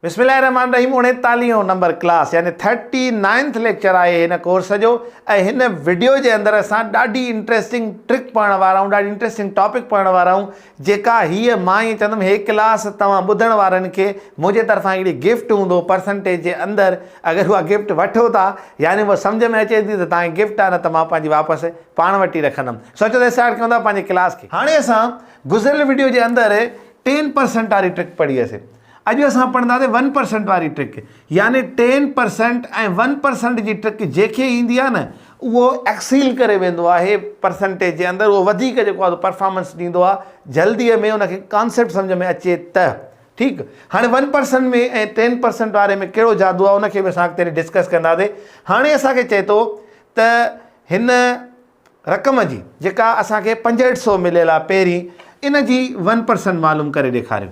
بسم الله الرحمٰن الرحيم اڻيتاليهون نمبر ڪلاس يعني ٿرٽي نائنٿ ليڪچر آهي هن ڪورس جو ۽ هن وڊيو جي اندر اسان ڏاڍي انٽريسٽنگ ٽرڪ پڙهڻ وارا آهيون ڏاڍي انٽريسٽنگ ٽاپڪ پڙهڻ وارا آهيون جيڪا هيء مان ائين چوندم هي ڪلاس توهان ٻڌڻ وارن کي منهنجي طرفان هڪڙي گفٽ هوندو پرسنٽيج جي اندر اگر اها گفٽ وٺو ٿا يعني اهو سمجهه ۾ اچي ٿي ته توهان کي گفٽ آهي نه ته مان پنهنجي واپس پاڻ وٽ ئي رکندم سوچو ته اسٽارٽ ڪيون ٿا پنهنجي ڪلاس کي هاڻي اسان گذريل وڊيو جي اندر ٽين پرسنٽ واري ٽرڪ پڙهي هئسي اڄ اسان پڙهنداسين ون پرسنٽ واري ٽرڪ يعني ٽين پرسنٽ ۽ ون پرسنٽ جي ٽرڪ جيڪي ايندي آهي نه اهو ايڪسيل ڪري ويندو آهي پرسنٽيج جي اندر اهو وڌيڪ جيڪو آهي پرفارمنس ڏيندو آهي جلدي ۾ ان کي ڪانسيپٽ سمجهه ۾ اچي ته ٺيڪ هاڻي ون پرسنٽ ۾ ۽ ٽين پرسنٽ واري ۾ ڪهڙو جادو آهي ان کي به اسان اڳتي ڊسڪس ڪنداسين هاڻي اسانکي چئي ٿو ته هن رقم جي جيڪا اسانکي پنجهٺ سو مليل آهي پهرين ان جي ون پرسنٽ معلوم ڪري ڏيکاريو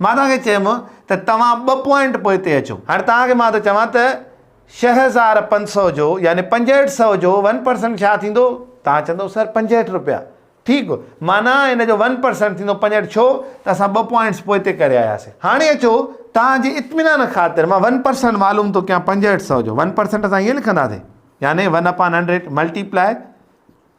مان توهان کي چيم ته توهان ٻه پوائنٽ پوئتي اچو. هاڻي توهان کي مان ٿو چوان ته ڇهه هزار پنج سؤ جو يعني پنجهٺ سئو جو ون پرسنٽ ڇا ٿيندو؟ توهان چوندو سر پنجهٺ رپيا. ٺيڪ معنيٰ ان جو ون پرسنٽ ٿيندو پنجهٺ ڇو ته اسان ٻه پوائنٽس پوئتي ڪري آياسين. هاڻي اچو توهان جي اطمينان خاطر مان ون پرسنٽ معلوم ٿو ڪيان پنجهٺ سئو جو ون پرسنٽ اسان ائين لکنداسين يعني one upon hundred multiply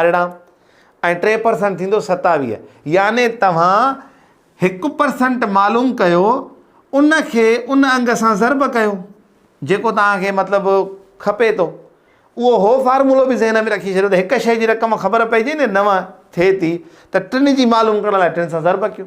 ارڙهن ۽ ٽي پرسنٽ ٿيندو ستاويهه يعني توهان هڪ پرسنٽ معلوم ڪيو ان کي ان انگ سان ضرب ڪيو جيڪو توهان کي مطلب کپي ٿو اهو هو فارمولو به ذهن ۾ رکي ڇڏيو ته هڪ شيء جي رقم خبر پئجي نه نو ٿئي ٿي ته ٽن جي معلوم ڪرڻ لاء ٽن سان ضرب ڪيو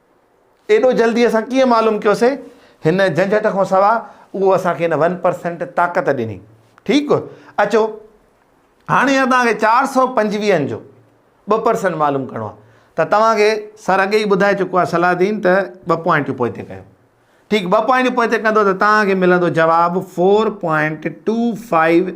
ايڏو جلدي اسان ڪيئن معلوم ڪيوسين؟ هن جهنجهٽ کان سواء اهو اسان کي ان ون پرسينٽ طاقت ڏني. ٺيڪ، اچو هاڻي اهي توهان کي چار سؤ پنجويهن جو ٻه پرسينٽ معلوم ڪرڻو آهي ته توهان کي سر اڳي ئي ٻڌائي چڪو آهي صلاح دين ته ٻه پوائنٽيون پوئتي ڪيو. ٺيڪ، ٻه پوائنٽيون پوئتي ڪندو ته توهان کي ملندو جواب فور پوائنٽ ٽو فائيو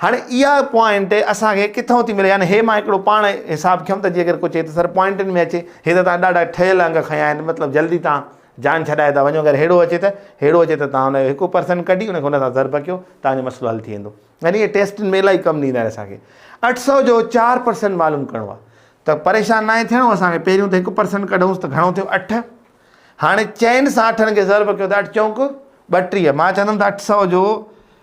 هاڻي اها پوائنٽ اسان کي ڪٿئون ٿي ملي يعني هي مان هڪڙو پاڻ حساب کنيم ته جيڪر ڪو چئي ته سر پوائنٽن ۾ اچي هي ته توهان ڏاڍا ٺهيل انگ کنيا آهن مطلب جلدي توهان جان ڇڏائي ٿا وڃو اگر ههڙو اچي ته ههڙو اچي ته توهان ان جو هڪ پرسن ڪڍي ان کي ان سان ضرب ڪيو توهان جو مسئلو حل ٿي ويندو يعني هي ٽيسٽن ۾ الائي ڪم ڏيندا آهن اسان کي اٺ سؤ جو چار پرسن معلوم ڪرڻو آهي ته پريشان ناهي ٿيڻو اسان کي پهريون ته هڪ پرسن ڪڍوس ته گهڻو ٿيو اٺ هاڻي چئن سان اٺن کي ضرب ڪيو ته اٺ چونڪ ٻٽيهه مان چوندم ته اٺ سؤ جو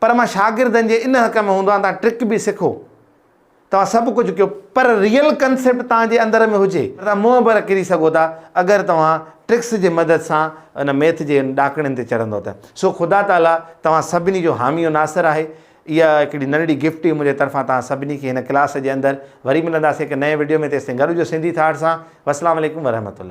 پر مان شاگردن جي ان حق ۾ هوندو آهيان توهان ٽرڪ به سکو توهان سڀ ڪجهه ڪيو پر ريئل ڪنسيپٽ توهان جي اندر ۾ هجي ته توهان منهن ڀر ڪري سگهو ٿا اگر توهان ٽرڪس جي مدد سان ان ميٿ جي ان ڏاڪڻين تي چڙهندو ته سو خدا تعاليٰ توهان سڀني جو حامي و ناصر آهي اها هڪڙي ننڍڙي گفٽ هئي منهنجي طرفان توهان سڀني کي هن ڪلاس جي اندر وري ملنداسين هڪ نئين وڊيو ۾ تيستائين گڏ هجو سنڌي ٿاٽ سان والسلام عليڪم ورحمة الله.